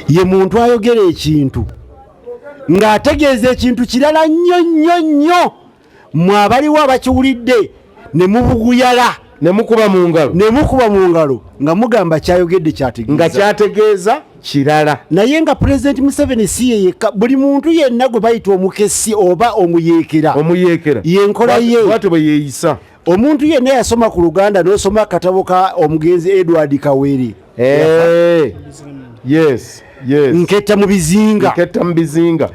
ye muntu ayogera ekintu ng'ategeeza ekintu kirala nnyo nnyo nnyo mwe abaliwo abakiwulidde ne mubuguyala nemukuba mu ngalo nemukuba mu ngalo nga mugamba kyayogedde kyategeeza nga kyategeeza kirala naye nga pulezidenti museveni si ye yekka buli muntu yenna gwe bayita omukesi oba omuyeekera omuyeekera yenkola ye bwatyo bwe yeeyisa omuntu yenna yasoma ku luganda nosoma akatabo ka omugenzi edward kawere eh, nketta mu bizinga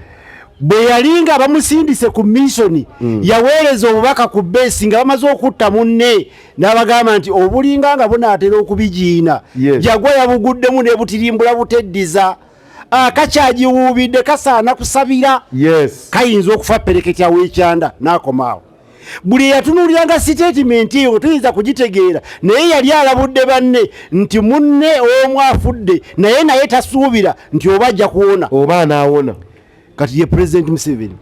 bwe yali nga bamusindise ku misoni mm. yaweereza obubaka ku beesi nga bamaze okutta munne n'abagamba nti obulinga nga bunaatera okubigiina jagwa yabuguddemu nebutirimbula buteddiza akakyagiwuubidde kasaana kusabira kayinza okufa pereketyawo ekyanda n'akomaawo buli eyatunuuliranga sitatimenti eyo tuyinza kugitegeera naye yali alabudde banne nti munne omu afudde naye naye tasuubira nti oba ajja kuwona oba anaawona kati ye pulezidenti museveni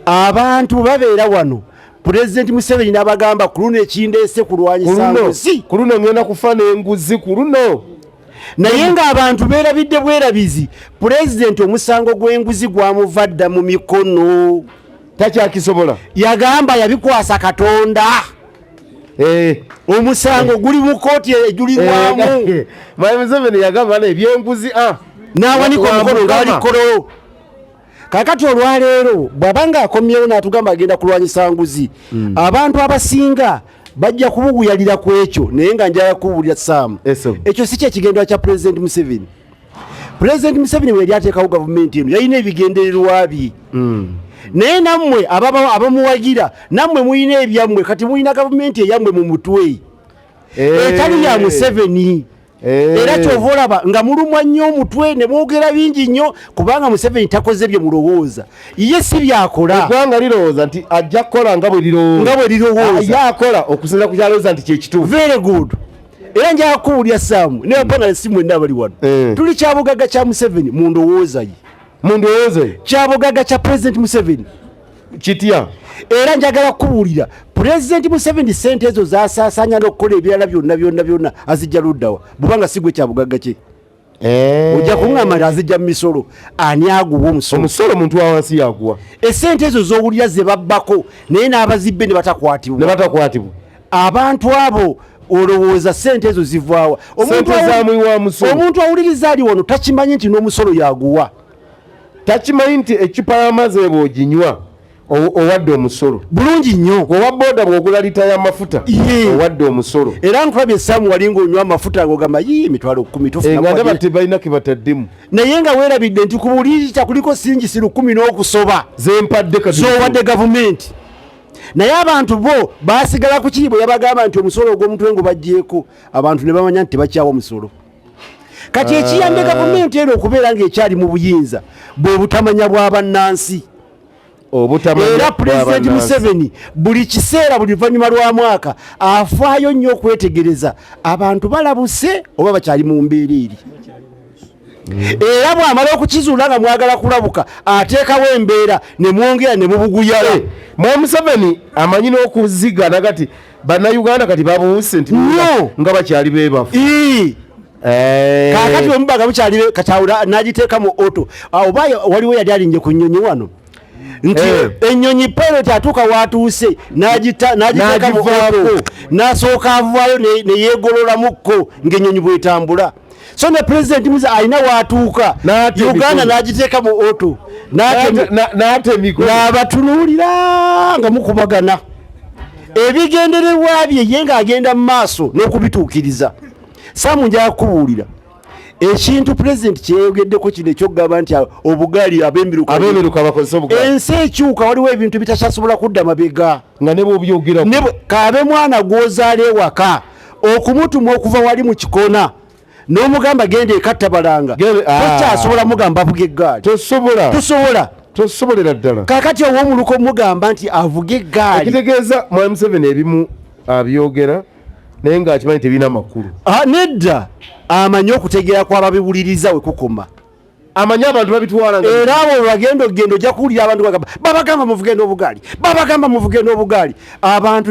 abantu babeera wano pulezidenti museveni nabagamba ku luno ekindeese kulwanyisa nguzi ku luno ngenda kufa n'enguzi ku luno naye ng'abantu beerabidde bwerabizi pulezidenti omusango gw'enguzi gwamuva dda mu mikono takyakisobola yagamba yabikwasa katonda eh. omusango eh. guli mu kooti ejulirwamu eh, mayi museveni yagamba nebyenguzi ah. nawanika omukono nga wali kololo kakati olwaleero bwaba nga akomyewo natugamba agenda kulwanyisa nguzi hmm. abantu abasinga bajja kubuguyalira ku ekyo naye nga njala kubuulira saamu ekyo si kyekigendwa kya pulezidenti museveni pulezidenti museveni weyali ateekawo gavumenti eno yalina ebigendererwa bye hmm. naye nammwe abamuwagira nammwe mulina ebyammwe kati mulina gavumenti eyammwe mu mutwe eh. etali ya museveni eh. era kyova olaba nga mulumwa nnyo omutwe ne mwogera bingi nnyo kubanga museveni takoze bye mulowooza ye si byakola eggwanga lirowooza nti ajja kukola nga bwe lirowooza nga bwe lirowooza akola okusinza ku kyalowooza nti kyekituufu very good era njaga kuwulira saamu ne bapanalisi mwenna abali wano eh. tuli kyabugaga kya museveni mu ndowooza ye mu ndowooza ye kyabugaga kya pulezidenti museveni kitya era njagala kubuulira pulezidenti museveni sente ezo zasasanya nokukola ebirala byonna byonna byonna azijja luddawa bubanga sigwe kyabugaga kye Eh. ojja kuŋŋamba nti azijja mu misolo ani aguwa omusolo omusolo omuntu wawansi yaguwa esente ezo z'owulira ze babbako naye n'abazibbe ne batakwatibwa ne batakwatibwa abantu abo olowooza sente ezo zivaawa omuntu awuliriza ali wano takimanyi nti n'omusolo yaguwa takimanyi nti ecupa y'amazzi ebwoginywa owadde omusolo bulungi nnyo owa boda bwogula lita ya mafuta owadde omusolo era nkulabye esaamu wali ngaonywa amafuta ngogamba yi emitwalo kumi tofunangaba eh, tebalina kebataddemu naye nga weerabidde nti ku buli lita kuliko singi si lukumi n'okusoba zempadde zowadde gavumenti naye abantu bo basigala ku kiri bwe yabagamba nti omusolo ogw'omutwe ngo bajjeeko abantu ne bamanya nti tebakyawa omusolo kati ekiyambye ah. gavumenti eno okubeera ng'ekyali mu buyinza bwe butamanya bwa bannansi era pulezidenti museveni buli kiseera buli luvannyuma lwa mwaka afaayo nnyo okwetegereza abantu balabuse oba bakyali mu mbeera eri era bwamala okukizuula nga mwagala kulabuka ateekawo embeera ne mwongera ne mubuguyala eh, mwa museveni amanyi n'okuziga nagati bannayuganda kati babuuse nti nga bakyali bebafu Eh. kakati omubaga bukyali katawula nagiteeka mu oto ah, oba waliwo yali alinje ku nnyonyi wano nti eh. ennyonyi pilot atuuka watuuse nagiteeka mu oto nasooka avaayo neyegololamukko ngaennyonyi bwetambula so ne pulezidenti muze alina watuuka uganda nagiteeka mu oto nabatunuulira nga mukubagana ebigendererwa bye ye ngaagenda mu maaso n'okubituukiriza saamu nja kukubuulira ekintu pulezidenti kyeyogeddeko kino ekyokugamba nti obugaali abemiruka bakozesa obugaali ensi ekyuka waliwo ebintu bitakyasobola kudda mabega nga nebwobyogera kaabe mwana gwozaala ewaka okumutuma okuva wali mu kikona n'omugamba genda ekattabalanga tokyasobola ah. mugamba avuga eggaali tosobola tosobola tosobolera ddala kakati ow'omuluka omugamba nti avuga eggaali ekitegeeza mwami museveni ebimu abyogera naye nga akimanyi tebirina makulu ah, nedda amanyi okutegeera kwababiwuliriza wekukoma amanyi abantu babitwala era abo webagenda okugenda ojja kuwulira abantu bagamba babagamba muvugenda obugaali babagamba muvugenda obugaali abantu